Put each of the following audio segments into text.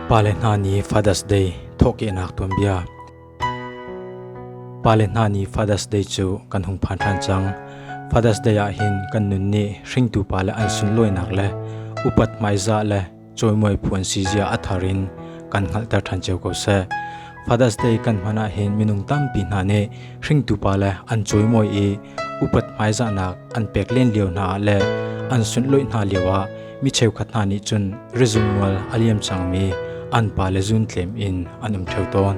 Pale hna nih Father's Day thawhkehnak tuanbia Pale hna nih Father's Day cu kan hung phan ṭhan cang. Father's Day ah hin kan nun nih hringtu pa le an sunlawinak le upat hmaizah le cawimuai phuan si zia a thar in kan hngalhter ṭhan cio ko seh. Father's Day kan hman ah hin minung tampi hna nih hringtu pa le an cawimuai i upat hmaizahnak an pek len lio hna ah le an sunhlawih hna lio ah mi cheukhat hna nih cun rizum mual a liam cangmi an pa le zun tlem in an um ṭheu tawn.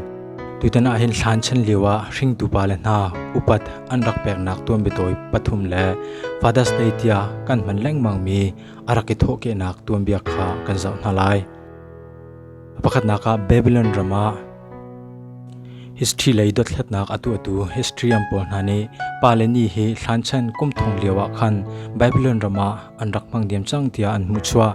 Tutan ah hin thlan chan lio ah hringtu pa le hna upat an rak peknak tuanbiatawi pathum le Father's Day tiah kan hman lengmangmi a rak i thawhkehnak tuanbia kha kan zoh hna lai. Pakhatnak ah Babylon ram ah history lei dothlatnak a tuahtu historian pawl hna nih pa le ni hi thlanchan kum thong lio ah khan Babylon ram ah an rak hmang diam cang tiah an hmuh chuah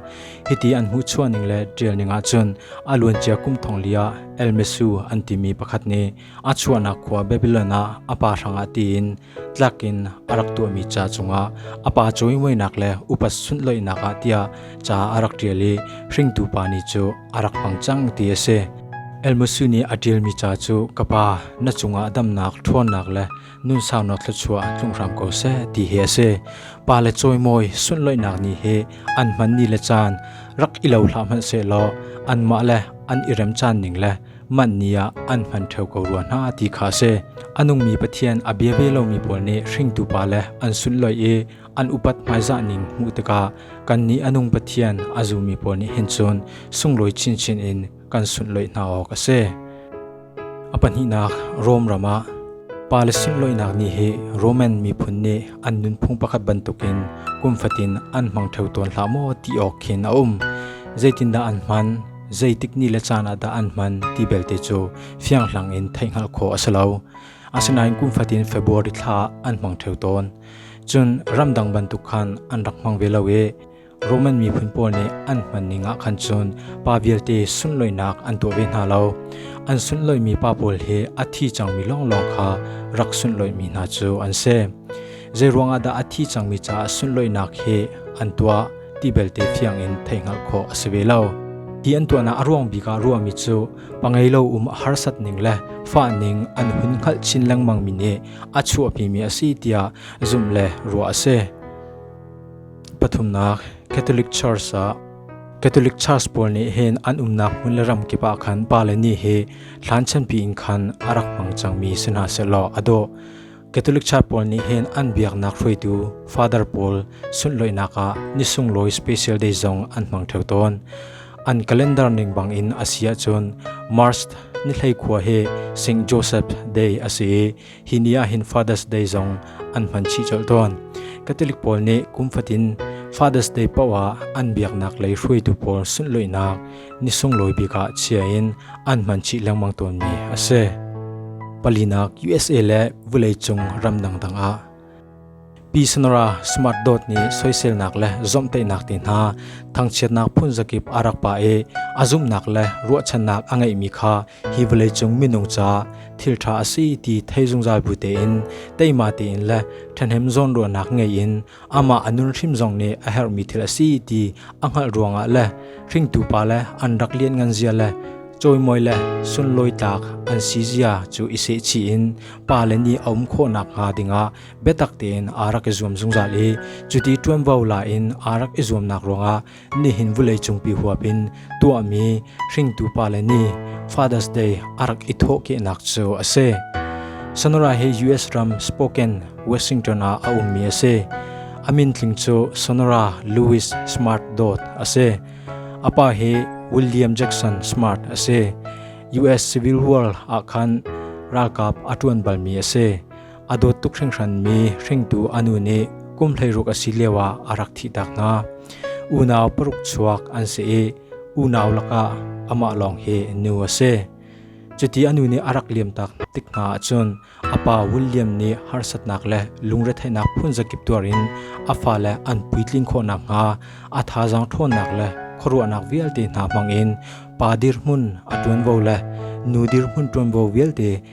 hiti an hmuh chuah ning le ṭial ning ahcun a luancia kum thong li ah El Mesu an timi pakhat nih a chuahnak khua Babilon ah a pa hrangah tiin tlak in a rak tuahmi ca cungah a pa cawimuainak le upat sunhlawihnak ah tiah ca a rak ṭial i hringtu pa ni cu a rak hmang cang ti a si. Elmusu nih a ṭialmi ca cu ka pa na cungah damnak ṭhawnnak le nunsauno thluachuah tlung hram ko seh ti hi a si. Pa le cawimawi sunhlawihnak ni hi an hman ni le caan rak i lo hlah hmanh sehlaw anmah le an i rem caan ning le Manh ni ah an hman ṭheo ko rua hna ti kha a si. A nungmi Pathian a bia ve lomi pawl nih hringtu pa le an sunhloi i an upat hmaizah ning hmuh tikah kannih a nung Pathian a zummi pawl nih hin cun sunglawi chinchin in kan sunhloi hna awk a si. A pahnihnak Rom ram ah pa le sunloinak ni hi Roman miphun nih an nunphung pakhat bantukin kum fatin an hmang ṭheo tawn hlah maw ti awk khin a um. Zeitindah an hman? zeitik ni le caan ah dah an hman ti belte cu fianghlang in theih hngalh khawh a si lo. Asinain kum fatin February thla an hmang theo tawn. Cun ramdang bantuk khan an rak hmang ve lo i Roman miphun pawl nih an hman ning ah khan cun pa vialte sunloinak an tuah ve hna lo. An sunloimi pa pawl hi a thi cangmi lawnglawng kha rak sunloimi hna cu an si. Zei ruangah dah a thi cangmi caah sunloinak hi an tuah? ti belte fiang in thei hngalh khawh a si ve lo. Ti an tuahnak a ruang bik ah ruahmi cu pangei lo um a harsat ning le fa ning an hun hngalh chin lengmang mi nih a chuahpi mi a si tiah zumh le ruah a si. Pathumnak Catholic Church ah Catholic Church pawl nih hin an umnak hmun le ram kip ah khan pa le ni hi thlan chanpi in khan a rak hmang cangmi si hna se law a dawh Catholic Church pawl nih hin an biaknak hruaitu father pawl sunhlawihnak ah ni sunglawi special day zong an hmang theo tawn. An calendar ning bangin a si ahcun March ni hleikhua hi St. Joseph Day a si i hi ni ah hin Father's Day zong an hman chih colh tawn. Catholic pawl nih kum fatin Father's Day paoh ah an biaknak lei hruaitu pawl sunhlawihnak ni sunglawi bik ah chia in an hman chih lengmang tawnmi a si. Palinak USA le vawleicung ram dangdang ah Pi Sanara Smart Dot nih soiselnak le zomhtaihnak te hna thangchiatnak phunzakip a rak pa i a zumhnak le ruahchannak a ngeihmi kha hi vawleicung minung ca thilṭha a si ti thei zungzal bu tein teima tein le ṭhahnem zawnruahnak ngei in amah a nunhrim zong nih a herhmi thil a si ti a hngalh ruangah le hringtu pa le an rak lianngan zia le cawimawi le sunlawi tlak an si zia cu i sehchih in pa le nih a um khawhnak hnga dingah biatak tein aa rak i zuam zungzal i cuti ṭuanvo la in aa rak i zuamnak ruangah Nihin vuleicung pi huap in tuahmi hringtu pale ni Father's Day a rak i thawhkehnak cu a si. Sonora hi US ram Spokane, Washington ah a ummi a si. A min tling cu Sonora Louis Smart Dodd a si. A pa hi William Jackson Smart a si. US Civil War ah khan ralkap a ṭuan balmi a si. A dawt tuk hringhranmi hringtu anu nih kum hleiruk a si lio ah a rak thihtak hna. Unau paruk chuak an si i unau lakah amah lawng hi nu a si. Cuti anu nih a rak liamtak tik hna ahcun a pa William nih harsatnak le lungretheihnak phun zakip tuar in a fale an puitlin khawhnak hnga a thazang ṭhawnnak le khuaruahnak vialte hna hmang in pa dirhmun a ṭuanvo le nu dirhmun ṭuanvo vialte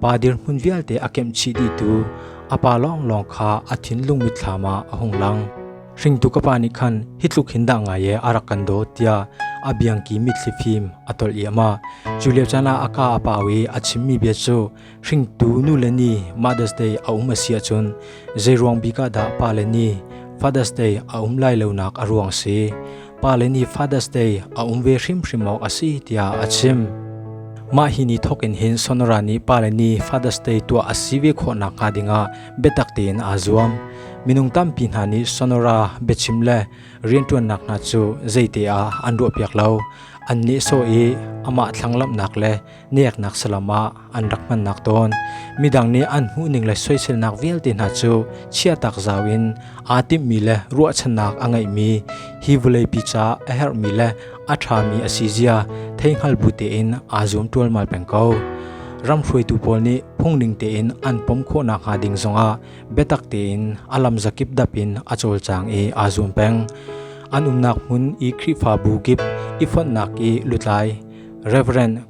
Pa dirhmun vialte a kemhchih dihtu a pa lawnglawng kha a thinlung mitthlam ah a hung lang. Hringtu ka pa nih khan hi tluk hin dah ngai e a rak kan daw tiah a biangki mitthli fim a tolh i ama cu lio caan ah a ka a pau i a chimmi bia cu hringtu nu le ni Mother's Day a um a si ahcun zeiruang bik ah dah pa le ni Father's Day a um lai lonak a ruang si pale ni Father's Day a um ve hrimhrim awk a si tiah a chim. Mah hi ni thokin hin sonora ni pale ni Father's Day tuah a si ve khawhnak hnga dingah biatak tein aa zuam. Minung tampi hna nih sonora biachim le rianṭuannak hna cu zeite ah an ruahpiak lo. An nih so i amah thlanglamnak le Neknak salam ah an rak hmannak tawn midang nih an hmuhning le soiselnak vialte hna cu chiatak zau in aa timhmi le ruahchannak a ngeihmi hi vawleipi ca a herhmi le a ṭhami a si zia theihngal bu tein aa zum ṭualmal peng ko. Ram hruaitu pawl nih phungning tein an pom khawhnak hnga ding zongah biatak tein a lam zakip dap in a cawlcang i aa zum peng. An umnak hmun i Khrihfabu kip i fonhnak i lutlai Rev.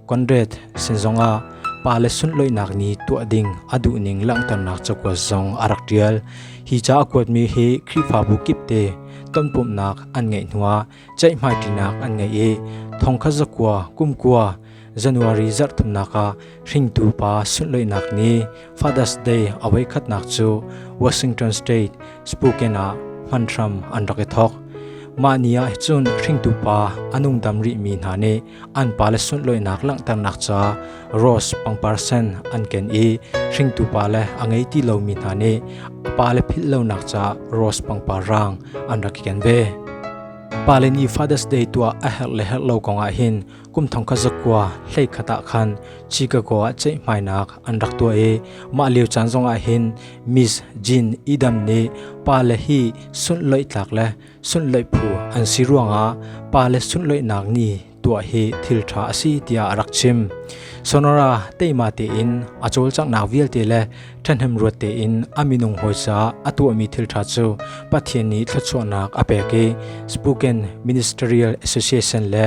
Conrad sin zongah pa le sunlawihnak nih tuah ding a duhning langhternak cakuat zong a rak ṭial. Hi ca a kuatmi hi Khrihfabu kipte tonpumhnak an ngeih hnuah ceihmaiṭinak an ngei i thongkhat zakua kumkua January zarh thumnak ah hringtu pa sunlawihnak nih Father's Day a voikhatnak cu Washington State, Spokane ah hman hram an rak i thawk. Mah ni ah cun hringtu pa a nungdam rihmi hna nih an pale sunhlawihnak langhternak ca rose pangparsen an ken i hringtu pale a ngei ti lomi hna nih a pale philh lonak ca rose pangpar raang an rak i ken ve. Pale nih Father's Day tuah a herh le herh lo kongah hin Kum thong khat zakua hlei khat ah khan Chicago ah ceihmainak an rak tuah i mah lio caan zongah hin Miss Jean Edam nih pa le hi sunhlawih tlak le sunhlawih phu an si ruangah pa le sunhlawihnak ni tuah hi thil ṭha a si tiah a rak chim. Sonora teima tein a cawlcanghnak vialte le ṭhahnem ruat tein a minung hawisa a tuahmi thil ṭha cu Pathian nih thluachuahnak a pek i Spokane Ministerial Association le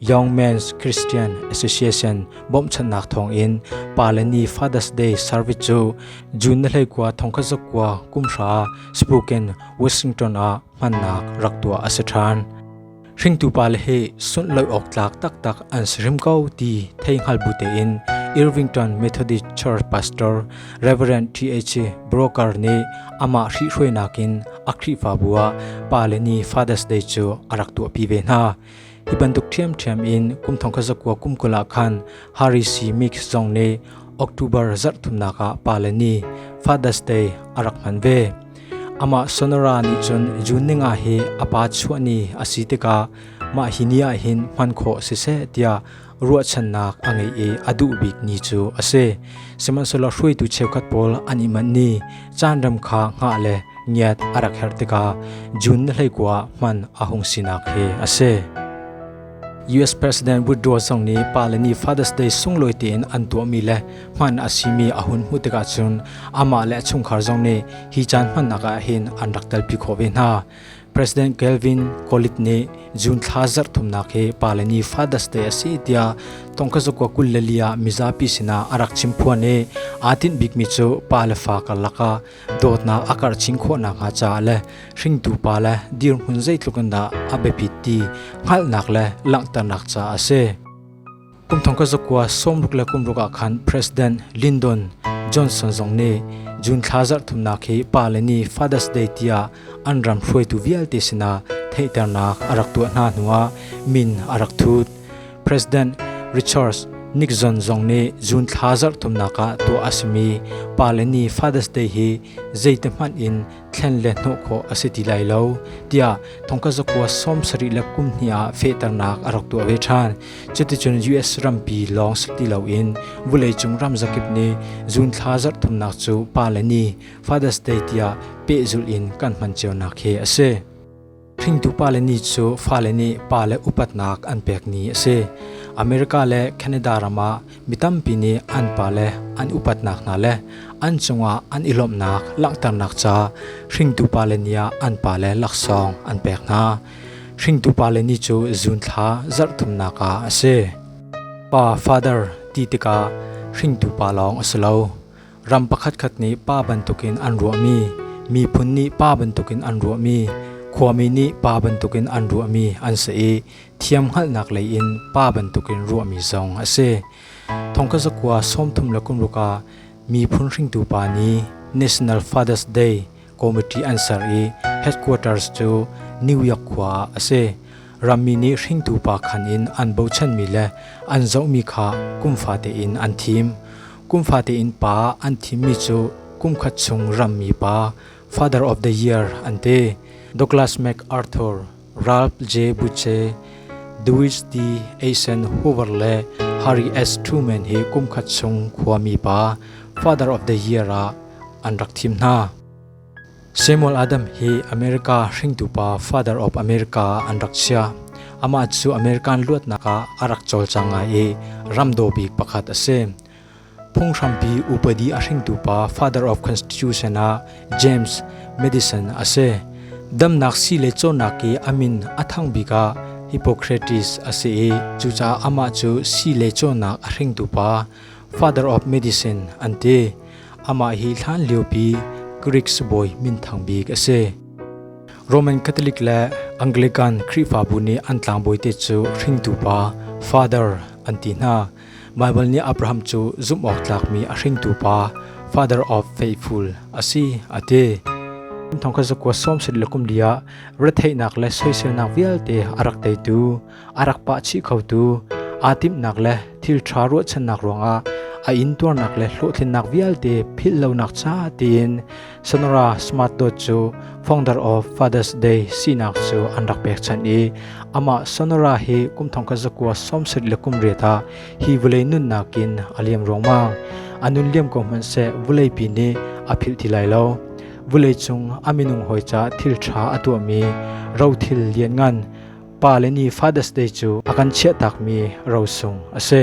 Young Men's Christian Association bawmhchanhnak thawngin pa le ni Father's Day service cu June na hleikua thongkhat zakua kumhra Spooken Washington ah hmannak rak tuah a si ṭhan. Hringtu pa le hi sunh lo awk tlak taktak an si rim ko ti thei hngal bu tein Irvington Methodist Church Pastor Reverend T.H. Broker nih amah hrihhruainak in a Khrihfabu ah pa le ni Father's Day cu a rak tuahpi ve hna. Hi bantuk ṭhiamṭhiam in kum thong khat zakua kum kul ah khan Harisi mix zong nih October zarh thumnak ah pa le ni Father's Day a rak hman ve. Amah Sonora nih cun June ni nga hi a pa chuah ni a si tikah mah hi ni ah hin hman khawh a si seh tiah ruahchannak a ngei i a duh bikmi cu a si. Sihmanhsehlaw hruaitu cheukhat pawl an i manh i caanrem kha hngah le ngiat a rak herh tikah June ni hleikua ah hman a hung sinak hi a si. US President Woodrow zong nih pa le nih Father's Day sunglawi tein an tuahmi le hman a simi a hun hmuh tikah cun amah le a chungkhar zong nih hi caan hmannak ah hin an rak telpi khawh ve hna. President Calvin Colit nih June thla zarh thumnak hi pa le ni Father's Day a si tiah tongkhazakua kul le li ah mizapi sinah a rak chim phuan i aa tinh bikmi cu pa le fa karlak ah dawtnak a karh chin khawhnak hnga caah le hringtu pa le dirhmun zeitluk in dah a biapit ti hngalhnak le langhternak caah a si. Kum thong ka zakua sawmruk le kumruk ah khan President Lyndon Johnson zong nih June thla zarh thumnak hi pa le ni Father's Day tiah an ram hruaitu vialte sinah theihternak a rak tuah hna hnuah min a rak thut. President Richard Nixon zong nih June thla zarh thumnak ah tuah a simi pa le ni Father's Day hi zeite hmanh in thlen le hnawh khawh a si ti lai lo tiah thongkha zakua sawm sarih le kum hnih ah fehternak a rak tuah ve ṭhan. Cuticun US rampi lawng si ti loin vuleicung ram zakip nih zun thla zarh thumnak cu pa le ni Father's Day tiah pehzulh in kan hman cionak hi a si. Hringtu pale ni cu fale nih pale upatnak an pek ni a si. America le Canada ram ah mi tampi nih an pale an upatnak hna le an cungah an i lawmhnak langhternak ca hringtu pale ni ah an pale laksawng an pek hna. Hringtu pale ni cu zun thla zarhthumnak ah a si. Pa, Father ti tikah hringtu pa lawng a si lo. Ram pakhatkhat nih pa bantukin an ruahmi, miphun nih pa bantukin an ruahmi, khuami nih pa bantukin an ruahmi an si i thiam hngalhnak lei in pa bantukin ruahmi zong a si. Thongkha zakua sawmthum le kumruk ah miphun hringtu pa ni, National Father's Day, Committee an ser i headquarters cu New York khua ah a si. Rammi nih hringtu pa khan in an bochanmi le an zohmi kha kum fate in an thim. Kum fate in pa an thimmi cu kum khat chung rammi pa, Father of the Year an ti. Douglas MacArthur Ralp J. Butche, Duisdi Eisenhower le Harry S. Truman hi kumkhat chung khuami pa Father of the Year ah an rak thim hna. Samuel Adam hi America hringtu pa Father of America an rak sia. Amah cu American luatnak ah a rak cawlcang ngai i ramdaw bik pakhat a si. Phunghrampi upadi a hringtu pa Father of Constitution ah James Madison a si. Damnak sii le cawnnak i a min a thang bik ah Hippocrates a si i cucaah amah cu sii le cawnnak a hringtu pa Father of Medicine an ti. Amah hi hlan liopi Greek sibawi minthang bik a si. Roman Catholic le Anglican Khrihfabu nih an tlangbawi te cu hringtu pa Father an ti hna. Baibal nih Abraham cu zumhawktlakmi a hringtu pa, father of faithful a si a ti. Thongkhat zakua sawm sat le kum li ah retheihnak le soiselnak vialte a rak teitu, a rak pahchih khotu, aa timhnak le thilṭha ruahchannak ruangah a intuarnak le hlawhtlinnak vialte philh lonak ca tiin Sonora Smart Dot cu founder of Father's Day sinak cu an rak pek chan i amah Sonora hi kum thong ka zakua somsit le kum re ta hi vulei nunnak in a liam ruangmang a nun liam ko hmanh se vulei pi nih a philh ti lai lo vulei cung a minung hoi ca thil tha a tuahmi ro thil lian ngan pa le ni Father's Day cu a kan chiah takmi ro sung a si.